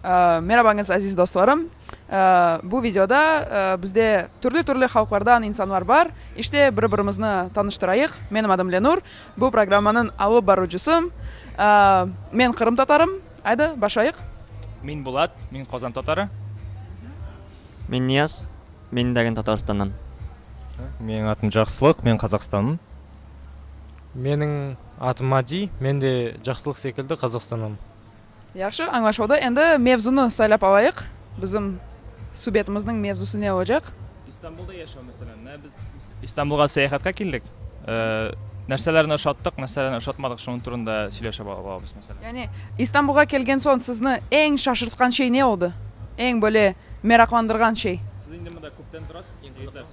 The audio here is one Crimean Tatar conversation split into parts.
Merabañız, aziz dostlarım! Bu videoda bizde türlü-türlü halqlardan insanlar bar. İşte, biri-birimizni tanıştırayıq. Menim adım Lenur, bu programmanıñ alıp baruvcısım. Men qırımtatarım. Aydı, başlayıq. Men Bulat, men Qozan tatarı. Men Niyaz, men Dagin Tataristandan. Menim adım Caqsılıq, men Qazaqstanım. Menim adım Adi, men de Caqsılıq sekildi Qazaqstandan. Yahşı, añlaşıldı. Endi mevzunı saylap alayıq. Bizim subetimizniñ mevzusı ne olacaq? İstanbulda yaşav, meselen. Ne biz İstanbulğa seyahatqa keldik, narselerni oşattıq, narselerni oşatmadıq, şunıñ turunda söyleşip olamız, meselen. Yani, İstanbulğa kelgen soñ sizni eñ şaşırtqan şey ne oldı? Eñ böyle meraqlandırğan şey? Siz indi mında köpten turasız?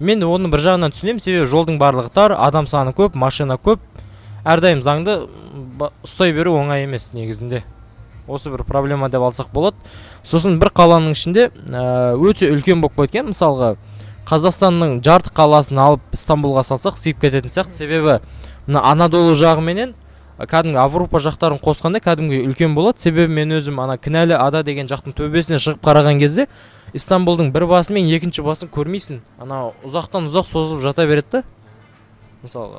Men onı bir jağından tüsünem, sebebi joldıñ barlığı tar, adam sanı köp, maşina köp, er daim zañdı ustay berüv oñay emes negizinde. Osı bir problema dep alsaq boladı. Sosun bir qalanıñ içinde öte ülken bolıp ketken, misalğa, Qazahstannıñ cartı qalasını alıp İstanbulğa salsaq sıyıp ketetin sıyaqtı, sebebi mına Anadolu jağı menen kádimgi Avrupa jaqtarın qosqanda kádimgi ülken boladı, sebebi men özüm ana Kinali ada degen jaqtıñ töbesine şığıp qarağan kezde İstanbuldıñ bir basınen ekinci basın körmeysiñ, ana uzaqtan-uzaq sozılıp jata beredi da, mısal,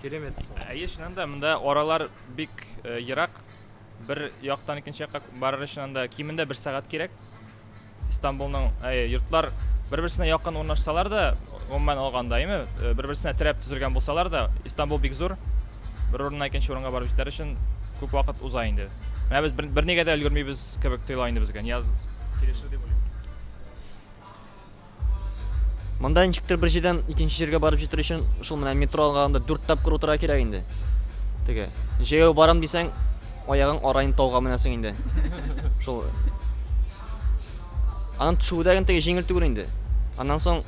keremet. Eye, şınan da, mında oralar bek yıraq, bir yaqtan ekinci yaqqa barır içün anda keminde bir saat kerek. İstanbulnıñ, eye, yurtlar bir-birisine yaqın ornaşsalar da, umuman olğanda, eymi, bir-birisine tirep tizilgen bolsalar da, İstanbul bek zur, bir orunnan ekinci orunğa barıp jeteri içün köp vaqıt uza endi. Menã biz bir negede ülgürmeybiz. Kibik tuyula endi bizge. Niyaz kelişir dep oylayman. Mında niçiktir bir jerden ekinci jerge barıp jetür içün şul mına metro alğanında dört tapqır otura kerek endi. Tege, jeyeu baram deyseń, ayağıñ arayın tavğa minesin endi. Şul. Anıñ tüşüvi de tege jeñil tügül endi. Andan soñ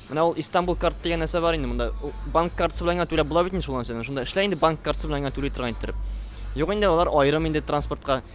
mına ol İstanbul kart degen narsa bar endi mında. O bank kartısı bilen gana tüle bula bit endi şul narseni. Şunda işley endi bank kartısı bilen gana tüle turğan ettirip. Yoq endi olar ayırım endi transportqa.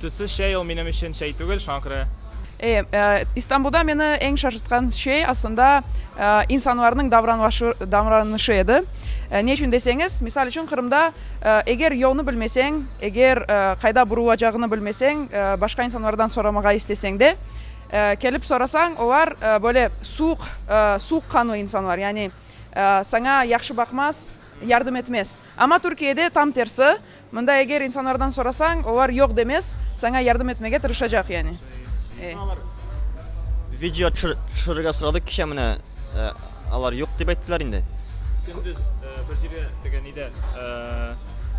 Suzsız şey ol menim içün şey tügül, şuña köre. E, İstanbulda meni eñ şaşırtqan şey, aslında, insanlarnıñ davranışı edi. Ne içün deseñiz, misal içün, Qırımda eger yolnı bilmeseñ, eger qayda burulacağını bilmeseñ, başqa insanlardan soramağa isteseñ de, kelip sorasañ, olar böyle suuq, suuqqanlı insanlar, yani, saña yahşı baqmaz, yardım etmez. Amma Türkiyede tam tersi, Mında eger insanlardan sorasañ, olar yoq demez, saña yardım etmege tırışacaq, yani. Şimdi alar video tüşürüge soradık kişe, mine, alar yoq dep ayttılar endi. Kündüz bir jere, degen, neyde,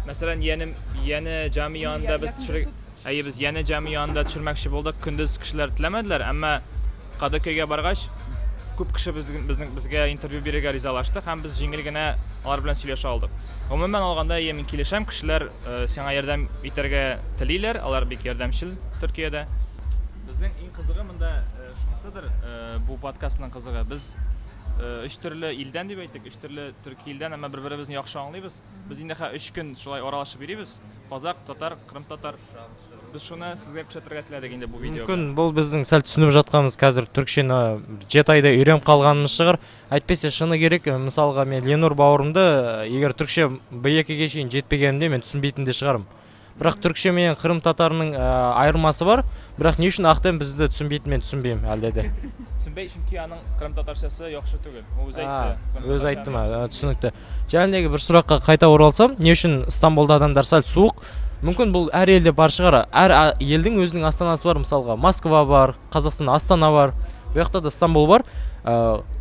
meselen, yeğenim, yeğeni cami yanında biz tüşürüge. Eye, biz yane cami yanında tüşürmekçi boldıq, kündüz kişiler tilemediler, amma Qadaköyge barğaç, küp kişi bizge intervyu berirge rizalaştı hem biz jeñilgina olar bilen suyleşe aldıq. Umumen alğanda, eye, men kelişem, kişiler saña yardam eterge tileyler, olar bek yardamçıl Türkiyede. Bizniñ eñ qızığı mında şunısıdır, bu podkastnıñ qızığı, biz üç türlü ilden dep ayttık, üç türlü Türkiye ilden, amma bir-birimizni yahşı añlıymız. Biz indi ha üç kün şulay oralaşıp yürüybiz, qozaq, tatar, qırımtatar. Biz şunı sizge küşetirge tiledik indi bu videoda. Mümkün, bul bizniñ sal tüsünip jatkannız kazir türkçeni cet ayda üyrenip qalganımız şığır. Aytpese şını kerek, mısalğa men Lenur bauırımdı eger türkçe B ekige şeyin jetpegenimde men tüsünbeytin de şığarım. Biraq türkçe menen qırımtatarnıñ ayırması bar. Biraq ne içün ahtem bizde tüsünbeydi, men tüsünbeyim elde de. Tüsünbey, çünki anıñ qırımtatarşası yahşı tügil. O özü ayttı. Özü ayttımı? Tüsünikli. Canımdaki bir suraqqa qayta oralsam, ne içün İstanbulda adamlar sal suvuq? Mümkün bul ar elde bar şığar. Ar eldiñ özüniñ Astanası bar. Misalğa, Moskva bar, Qazaqstanda Astana bar. Buyaqta da İstanbul bar.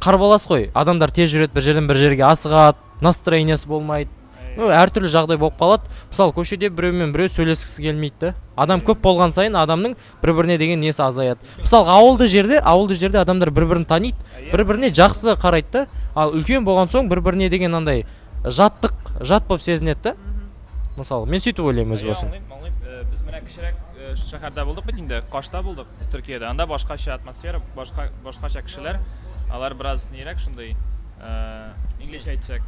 Qarbalasqoy, adamlar tez jüredi, bir jerden bir jerge asığa, nastroyeniyası bolmaydı. Ár türlü jagday bolıp qaladı. Mısal, köşede birevnen birev söyleskisi kelmeydi de. Adam köp bolğan sayın adamnıñ bir-birine degen nesi azayadı. Mısal, avıldı jerde, avıldı jerde adamlar bir-birini tanıydı, bir-birine caqsı qaraydı da. Al, ülken bolğan soñ bir-birine degen anday jatlıq, jat bolıp sezinedi de. Mısal, men suytip oylayım öz basım. Añlayım, añlayım. Biz mına kişirek şaherde boldıq bitinde, Kaşta boldıq, Türkiyede. Anda başqaça atmosfera, başqa, başqaça kişiler. Alar biraz neyirek şunday, iii, İngilizce aytsaq,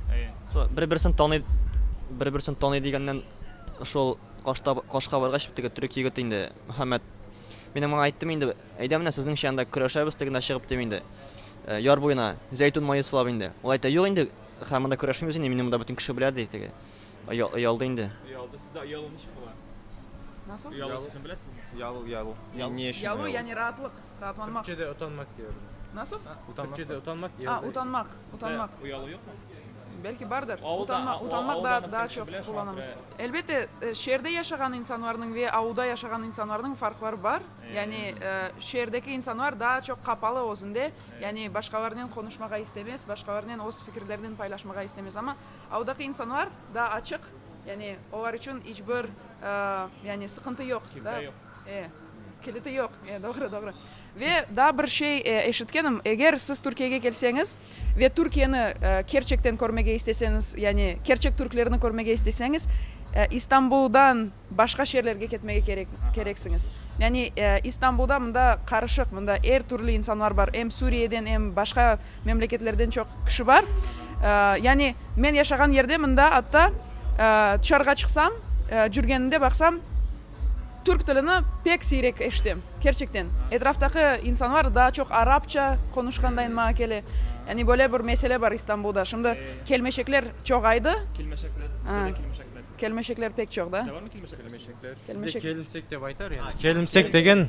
Bir-birisini tanıy, bir-birisini tanıy degennen, şol qoşta, qoşqa barğaç, bitta gö, türk yigiti indi, Muhammed, meni maña ayttı, men indi, eydem indi sizniñ şanda küreşemiz degennen şığıp diye indi, yar boyuna, zeytun mayı sılap indi. Ol ayta, yoq indi, ha mında küreşmeymiz indi, meni mında bütün kişi bile dey, tege uya, uyaldı indi. Uyaldı, sizde uyalı ne işi ola? Nasıl? Uyalı sözün bilesizmi? Uyalı, uyalı. Uyalı, yani raatlıq. Raatlanmaq. Türkçede utanmak diyorlar. Nasıl? Türkçede utanmak diyorlar. Aa, utanmaq, utanmaq. Sizde uyalı yoqmı? Belki bardır. Utanmaq, utanmaq da, daa çoq qullanamız. Elbette, şeerde yaşağan insanlarnıñ ve avulda yaşağan insanlarnıñ farqları bar. Yani, şeerdeki insanlar daa çoq qapalı özünde, yani başqalarınen qonuşmağa istemez, başqalarınen öz fikirlerinen paylaşmağa istemez. Amma avudaki insanlar daa açıq, yani olar içün iç bir, yani sıqıntı yoq. Kimse yoq. E, kiliti yoq. E, doğru, doğru. Ve daa bir şey eşitkenim, eger siz Türkiyege kelseñiz ve Türkiyeni kerçekten körmege isteseñiz, yani kerçek türklerni körmege isteseñiz, İstanbuldan başqa şeerlerge ketmege kerek, kereksiñiz. Yani İstanbulda mında qarışıq, mında er türlü insanlar bar, em Suriyeden, em başqa memleketlerden çoq kişi bar. Yani men yaşağan yerde mında atta, tışarığa çıqsam, cürgenimde baqsam, Türk tilini pek siyrek eşitem, kerçekten. Etraftaki insanlar daa çoq arapça qonuşqandayın maña kele. Yani böyle bir mesele bar İstanbulda, şimdi kelmeşekler çoğaydı. Kelmeşekler, Aa. kelmeşekler. Kelmeşekler pek çoq da. Sizde barmı kelmeşekler? Kelmeşekler. Bizde kelimsek dep aytar yani. Kelimsek degen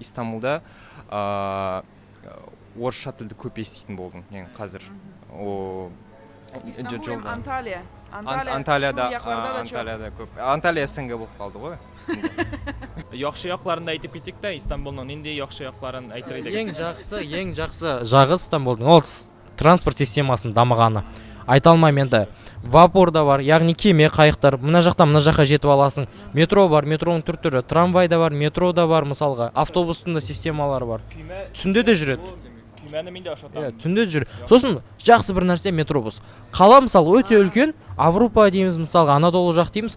İstanbulda orusça tildi köp esiteytin boldım, yañı qazir. İstanbul em Antalya. Antalya da, Antalya da köp. Antalya SNG bolıp qaldıǵoy. Yahşı yaqlarını da aytıp kettik de İstanbulnıñ. Nindi yahşı yaqların aytır ediñ? Eñ jaqsı, eñ jaqsı jağı İstanbulnıñ, ol Transport sistemasınıñ damığanı, aytalmayım endi. Vapur da bar, yağnı keme, qayıqtır, mına jaqtan mına jaqqa jetip alasıñ. Metro bar, metronıñ tür-türü, tramvay da bar, metro da bar, mısalğa, avtobusnıñ da sistemaları bar. Tünde de jüredi. Ya, tünde de jüredi. Sosin jaqsı bir narse, metrobus. Qala, mısal, öte ülken, Avrupa deymiz, mısalğa, Anadolu jaq deymiz,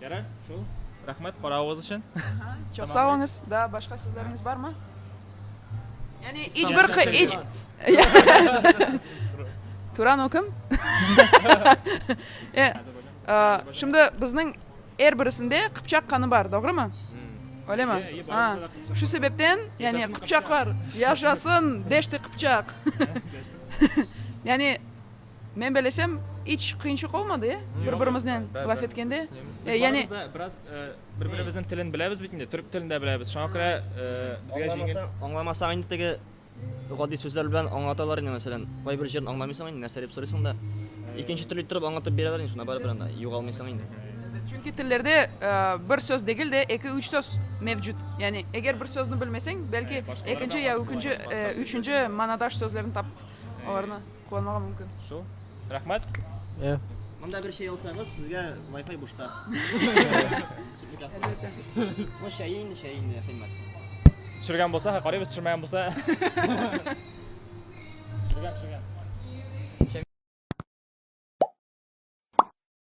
Yaray, şul. Rahmet qorauıız içün. Çoq sağ oluñız. Daa başqa sözleriñiz barmı? Yani iç bir qı, iç. Turan o kim? E, şimdi bizniñ er birisinde qıpçaq qanı bar, doğrumı? Öyle mi? Ha. Şu sebepten, yani qıpçaqlar yaşasın, Deşti Qıpçaq. Yani Men belesem, iç qıyınçıq olmadı, e, bir-birimiznen laf etkende. Biz barımız da biraz bir-birimizniñ tilin bilemiz bit indi, türk tilin de bilemiz, şoña köre bizge yeñil. Añlamasañ endi tege adiy sözler bilen añlatalar edi, meselen, qay bir yerini añlamaysıñ endi, nase dep soraysıñ da, ekinci türlü etirip añlatıp bereler endi, şunda baribir anda yuğalmaysıñ endi. Çünki tillerde bir söz degil de, eki-üç söz mevcut. Yani eger bir sözni bilmeseñ, belki ekinci ya ükünci, üçünci manadaş sözlerini tapıp olarnı. Qullanmağa mümkün. Şu. Rahmet. E. Mında bir şey alsañız, sizge Wi-Fi buşqa. Bu şeyin, şeyin ne qıymat. Tüşürgen bolsa, ha qarayız, tüşürmegen bolsa. Tüşürgen, tüşürgen.